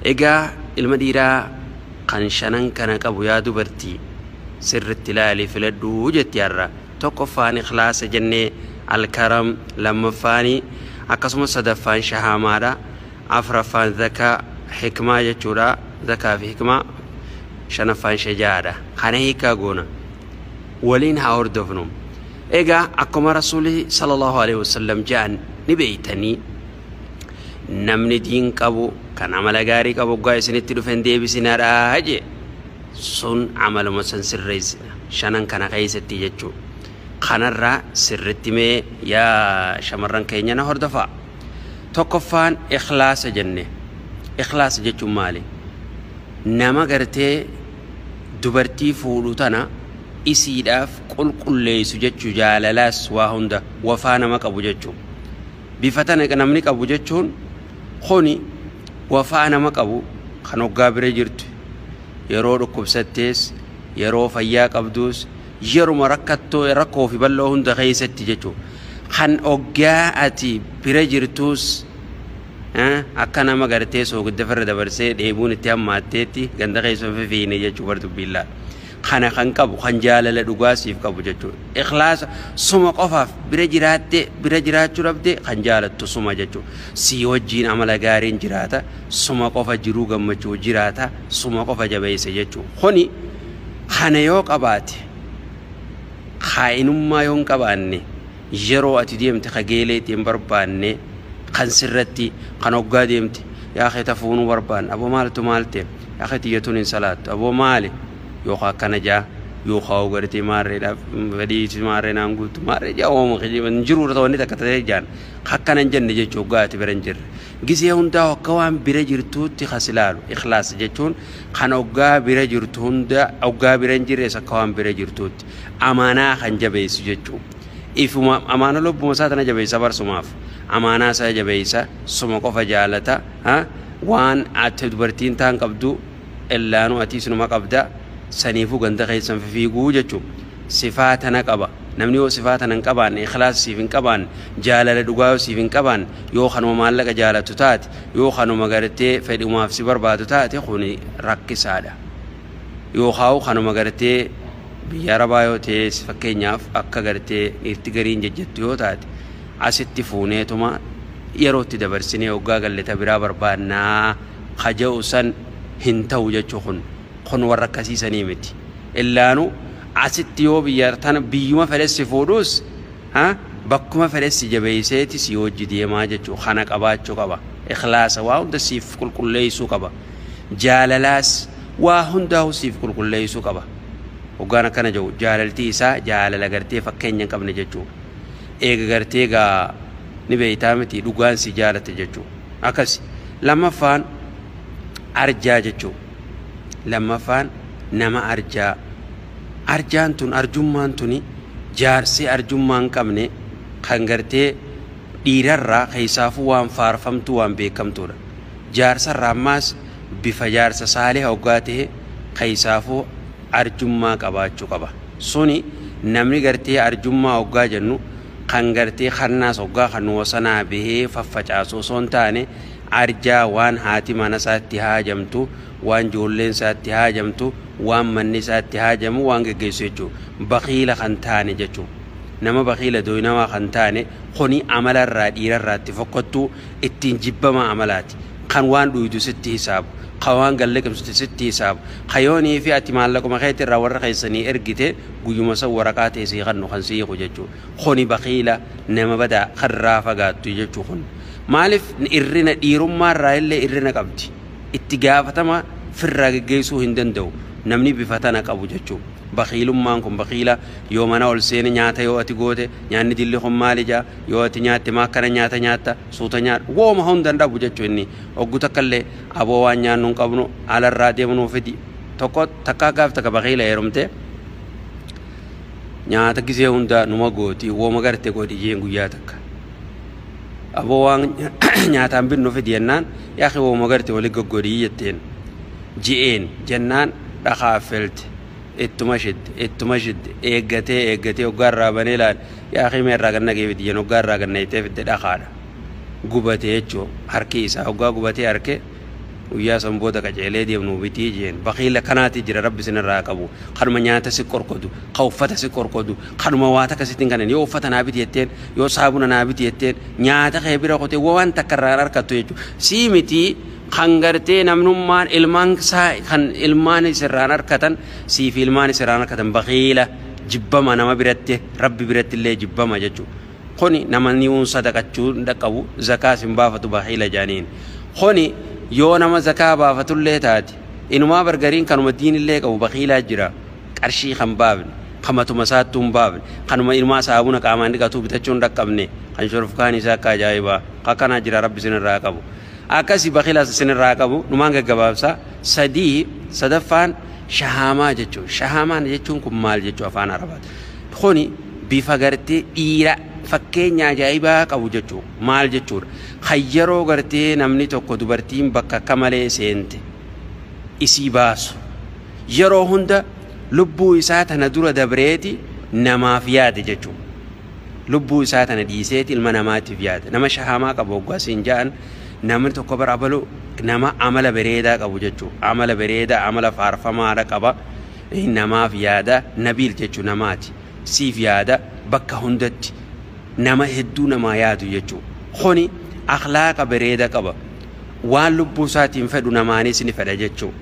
Egaa ilma dhiiraa kan shanan kana qabu yaa dubartii sirritti ilaali filadhu jetti har'a tokkoffaan ikhlaasa jenne alkaram lammaffaani akkasumas sadaffaan shahaamaadha afraffaan zakaa hikmaa jechuudha zakaa fi hikmaa shanaffaan shajaa'aadha kana hiikaa goona waliin haa hordofnu egaa akkuma rasuuli sallallahu alaihi wasallam ja'an ni beeytanii namni diin qabu kan amala gaarii qabu oggaa isinitti dhufe hin deebisinaadha jee sun amaluma san sirreessina shanan kana keessatti jechuu kanarraa sirritti mee yaa shamarran keenya na hordofaa tokkoffaan ikhlaasa jenne ikhlaasa jechuun maali nama gartee dubartii fuudhu tana isiidhaaf qulqulleessu jechuu jaalalaas waa hunda wafaa nama qabu jechuu Bifa tana ka namni qabu jechuun kuni wafaa nama qabu kan hoggaa bira jirtu yeroo dhukkubsattees yeroo fayyaa qabduus yeruma rakkattoo rakkoo fi bal'oo hunda keessatti jechuu kan hoggaa ati bira jirtuus akka nama gartee soogidda firra dabarsee dheebuun itti hammaatteetti ganda keessa hin fifiine jechuu bar dubbiin laa kana kan qabu kan jaalala dhugaa siif qabu jechuudha. Ikhlaasa suma qofaaf bira jiraattee bira jiraachuu dhabdee kan jaalattu suma jechuudha. Sii wajjiin amala gaariin jiraata suma qofa jiruu gammachuu jiraata suma qofa jabeessa jechuudha. Kuni kana yoo qabaate kaa'inummaa yoo hin qabaanne yeroo ati deemte ka geelee itti hin barbaanne kan sirratti kan hoggaa deemte yaa kee tafuunuu barbaanne aboo maaltu maal ta'e Akhi tiyya tun hin salaattu aboo maali yookaa akkana jaa yookaa hoo gartee maarreedhaaf fedhii itti maarree naan guuttu maarree jaa hooma kijiba hin jiru irra wanni takka ta'ee jaan akkana hin jenne jechuu hoggaa ati bira hin jirre gisee hundaa akka waan bira jirtuutti kas ilaalu ikhlaas jechuun kan hoggaa bira jirtu hunda hoggaa bira hin jirres akka waan bira jirtuutti amaanaa kan jabeessu jechuu ifuma amaana lubbuma isaa tana jabeessa barsumaaf amaanaa isaa jabeessa suma qofa jaalata Ha? Waan acha dubartiin taan qabdu ellaanu atii sinuma qabda saniifu ganda keessan fifiiguu jechu sifaa tana qaba namni yoo sifaa tana hin qabaanne ikhlaasa siif hin qabaanne jaalala dhugaa yoo siif hin qabaanne yoo kanuma maallaqa jaalatu taate yoo kanuma gartee fedhumaaf si barbaadu taate kuni rakkisaadha yookaawu kanuma gartee biyya arabaa yoo ta'es fakkeenyaaf akka gartee dhiirti gariin jajjattu yoo taate asitti fuuneetuma yeroo itti dabarsinee hoggaa galle ta biraa barbaanna ka je'u san hin tahu jechu kun kun warra akkasii sanii miti illaanu asitti yoo biyya tana biyyuma fedhe si fuudhuus ha bakkuma fedhe si jabeeyseeti si wajji deemaa jechu kana qabaachu qaba ikhlaasa waa hunda siif qulqulleeysuu qaba jaalalaas waa hundaahu siif qulqulleeysuu qaba hoggaan akkana je'u jaalaltii isaa jaalala gartee fakkeenya hin qabne jechuu eega gartee gaa ni beeytaa miti dhugaan si jaalatte jechuu akkasi lammaffaan arjaa jechuu lammaffaan nama arjaa arjaan tun arjummaan tuni jaarsee arjummaa hin qabne kan gartee dhiirarraa keessaafuu waan faarfamtuu waan beekamtuudha jaarsarraa ammaas bifa jaarsa saaliha hoggaa ta'e keessaafuu arjummaa qabaachuu qaba. Suni namni gartee arjummaa hoggaa jennu kan gartee kannaas hoggaa kannu wasanaa bahee faffacaasu osoo hin taane arjaa waan haati mana isaa itti haajamtu, waan joolleen isaa itti haajamtu, waan manni isaa itti haajamu waan geggeessu jechuu. Bakiila kan taane jechu. Nama bakiila doynawaa kan taane kuni amala irraa dhiira irraa itti fokkottuu ittiin jibbamaa amala. Kan waan dhuydu sitti hisaabu, ka waan gad liqimsite sitti hisaabu, ka yoo nii fi ati maallaquma keeti irraa warra keessanii ergite guyyuma san waraqaa tee sii kannu kan sii hiiku jechu. Kuni bakiila, nama badaa, kan irraa fagaattu jechu kun. Maalif irrina dhiirummaa irraa illee irrina qabdi. Itti gaafatama firraa geggeessuu hin danda'u namni bifa tana qabu jechu. Bakiilummaan kun bakiila yoo mana ol seene nyaata yoo ati goote nyaanni dilli kun maali ja'a, yoo ati nyaatte maa akkana nyaata nyaatta, suuta nyaadhu wooma hunda hin dhabu jechu inni oggu takka illee aboo waan nyaannu hin qabnu ala irraa deemu nuuf fidi tokko takkaa gaaf takka bakiila heerumte nyaata gisee hunda numa gooti wooma garte godhi jeen guyyaa takka aboo waan nyaataan binnu fidi jennaan yaaki wooma garte wali goggodhii jetteen ji'een jennaan dhakaa felte ittuma shidde ittuma shidde eeggatee eeggatee oggaa irraa banee ilaale Yaa akii mee irraa gad naqii fidi jen hoggaa irraa gad nayxee fidde dhakaadha gubate jechu harkii isaa hoggaa gubatee arke guyyaa san booda qaceelee deem nuu bitii jeen bakiil akkanaatii jira rabbi sin irraa haa qabu kanuma nyaata si qorqodu ka uffata si qorqodu kanuma waa takka sitti hin kanen yoo uffata naa biti jetteen yoo saabuna naa biti jetteen nyaata kee bira kutee waan takka irraa hin arkattu jechu sii mitii kan gartee namnummaan ilmaan isaa kan ilmaan isirraan arkatan siifi ilmaan isirraan arkatan bakiila jibbama nama biratti rabbi biratti illee jibbama jechu kuni namani uun sadaqachuu hin dhaqqabu zakaas hin baafatu baxiila jaaniin kuni yoo nama zakaa baafatu illee taate inumaa bargariin kanuma diin illee qabu baxiilaa jira qarshii kan baafne kan matuma isaattuu hin baafne kanuma inumaa saabuna qaamaan dhiqatuu bitachuu hin dhaqqabne kan shorofkaan isaa akka ajaa'ibaa akkanaa jira rabbi isin irraa qabu Akkasi bakilas isinirraa haa qabu numaan gaggabaabsa sadii sadaffaan shahaamaa jechuun shahaamaan jechuun kun maal jechuu afaan arabaati kuni bifa gartee dhiira fakkeenya ajaa'ibaa qabu jechuu maal jechuudha kan yeroo gartee namni tokko dubartiin bakka akka malee seente isii baasu yeroo hunda lubbuu isaa tana dura dabreeti namaaf yaade jechuu Lubbuu isaa tana dhiiseeti ilma namaatiif yaada. Nama shahaamaa qabu hoggaa siin ja'an namni tokko bar abalu nama amala bereedaa qabu jechuu. Amala bereedaa amala faarfamaadha qaba. Namaaf yaada nabiil jechuu namaati. Siif yaada bakka hundatti nama hedduu namaa yaadu jechuu. Kuni akhlaaqa bereeda qaba. Waan lubbuu isaatiin fedhu namaanis ni fedha jechuu.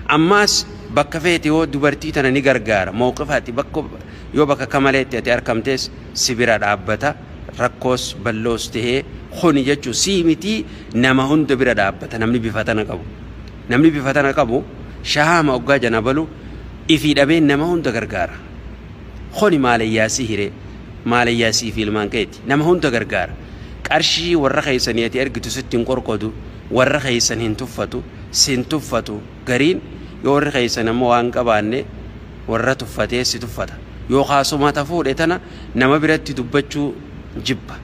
Ammaas bakka feete yoo dubartii tana ni gargaara. Mawqifa ati bakka Yoo bakakka maleetti ati arkamtees si bira dhaabbata, rakkoos balloos tahee kuni jechu si miti nama hunda bira dhaabbata namni bifa tana qabu. Namni bifa tana qabu shahaama oggaa janabalu ifii dhabee nama hunda gargaara. Kuni maalayyaa si hiree, maalayyaa sii fi ilmaan keeti. Nama hunda gargaara. Qarshii warra keessanii ati ergitu sitti hin qorqodu, warra keessan hin tuffatu, sin tuffatu. gariin yoo warri keessan ammoo waan qabaanne warra tuffatee si tuffata yookaa suma ta fuudhe tana nama biratti dubbachuu jibba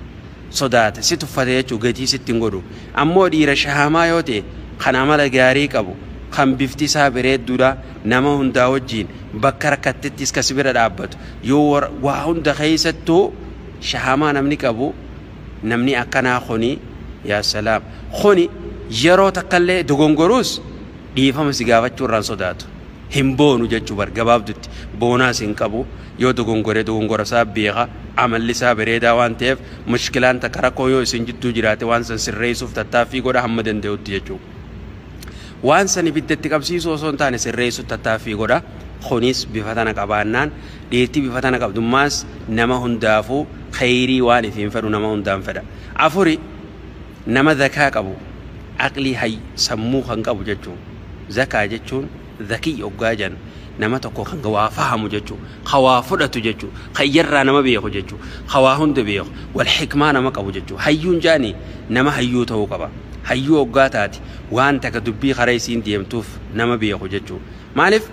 sodaata si tuffate jechuu gatii sitti hin godhu ammoo dhiira shahamaa yoo ta'e kan amala gaarii qabu kan bifti isaa bareedduudha nama hundaa wajjiin bakka rakkattettis ka si bira dhaabbatu yoo waa hunda keessattuu shahamaa namni qabu namni akkanaa kuni yaa salaam kuni yeroo takkallee dogongoruus dhiifama si gaafachuu irraan sodaatu hin boonu jechuu bar gabaabdutti boonaas hin qabu yoo dogongore dogongora isaa beeka amalli isaa bareedaa waan ta'eef mushkilaan takka rakkoon yoo isin jidduu jiraate waan san sirreessuuf tattaaffii godha hamma danda'utti jechuu Waan san ibidda itti qabsiisuu osoo hin taane sirreessuuf tattaaffii godha. Kunis bifa tana qabaannaan dhiirti bifa tana qabdummaas nama hundaafuu kheyrii waan ifiin fedhu nama hundaan fedha. Afuri nama zakaa qabu aqlii hay sammuu kan qabu jechuu. Zakaa jechuun Zakiy oggaa jennu nama tokko kan waa fahamu jechuu, ka waa fudhatu jechuu, ka ijarraa nama beeku jechuu, ka waa hunda beeku, wal hikmaa nama qabu jechuu. Hayyuun jaani nama hayyuu ta'uu qaba. Hayyuu oggaa taate waan taka dubbii karaa isiin deemtuuf nama beeku jechuu. Maalif?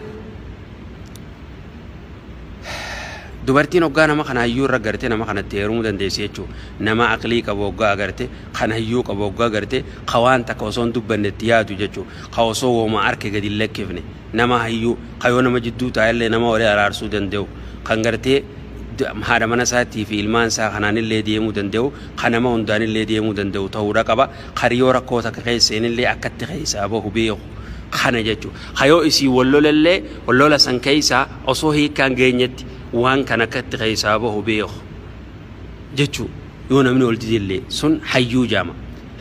Dubartiin hoggaa nama kana hayyuu irra garte nama kanatti heerumuu dandeessi jechuudha. Nama aqlii qabu hoggaa agarte, kan hayyuu qabu hoggaa agarte, ka waan takka osoo hin dubbanne itti yaadu jechuudha. Ka osoo wooma arke gadi hin lakkifne. Nama hayyuu, ka yoo nama jidduu taa'ellee nama wali araarsuu danda'u. Kan gartee haadha mana isaatii fi ilmaan isaa kanaanillee deemuu danda'u, ka nama hundaanillee deemuu danda'u ta'uudha qaba. Kan yoo rakkoo takka keessa seenillee akkatti keessaa bahu beeku. Kana jechuudha. Ka yoo isii wol lolellee lola san keessaa osoo hiikkaan geenyetti waan kan akka itti keessaa bahu beeku jechuu yoo namni wol didellee sun hayyuu jaama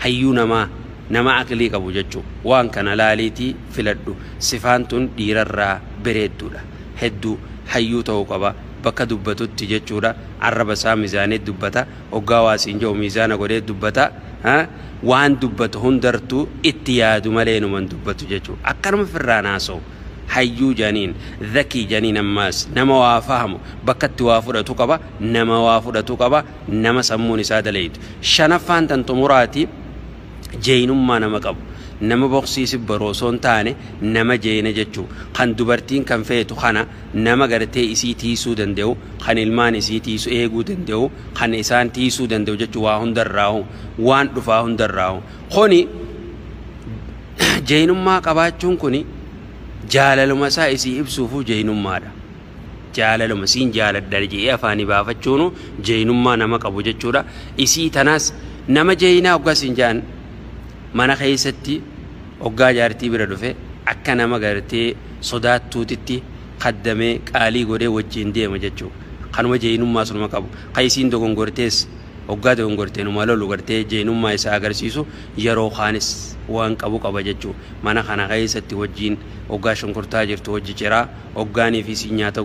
hayyuu namaa nama aqlii qabu jechuu waan kana laaliitii filadhu sifaan tun dhiirarraa bereedduudha hedduu hayyuu ta'u qaba bakka dubbatutti jechuudha arraba isaa mizaanee dubbata Oggaa waa siin ja'u miizaana godhee dubbata. Waan dubbatu hundartuu itti yaadu malee inuma hin dubbatu jechuudha. Akkanuma firraan haasawu. Hayyuu janiin, zakii janiin ammaas nama waa fahamu, bakka itti waa fudhatu qaba, nama waa fudhatu qaba, nama sammuun isaa dalaydu. Shanaffaan tan xumuraati jeeynummaa nama qabu. Nama boksii sibbaru osoo hin taane nama jeeyna jechuu. Kan dubartiin kan feetu kana. nama gartee isii tiisuu danda'u kan ilmaan isii tiisu eeguu danda'u kan isaan tiisuu danda'u jechuun waa hundarraahu waan dhufaa hundarraahu kuni jeynummaa qabaachuun kuni jaalaluma isaa isii ibsuufuu jeynummaadha jaalaluma siin jaaladha jedhee afaanii baafachuunu jeynummaa nama qabu jechuudha isii tanaas nama jeynaa oggaa siin jaan Mana keessatti oggaa jaartii bira dhufe akka nama gartee sodaattuutitti kaddamee qaalii godhee wajjiin deema jechuu. Kanuma jeeynummaa sunuma qabu. Ka isiin dogongortees oggaa dogongorte numa lolu gartee jeeynummaa isaa agarsiisu yeroo kaanis waan qabu qaba jechuu. Mana kana keessatti wajjiin oggaa shunkurtaa jirtu wajji ciraa, oggaan fi isiin nyaata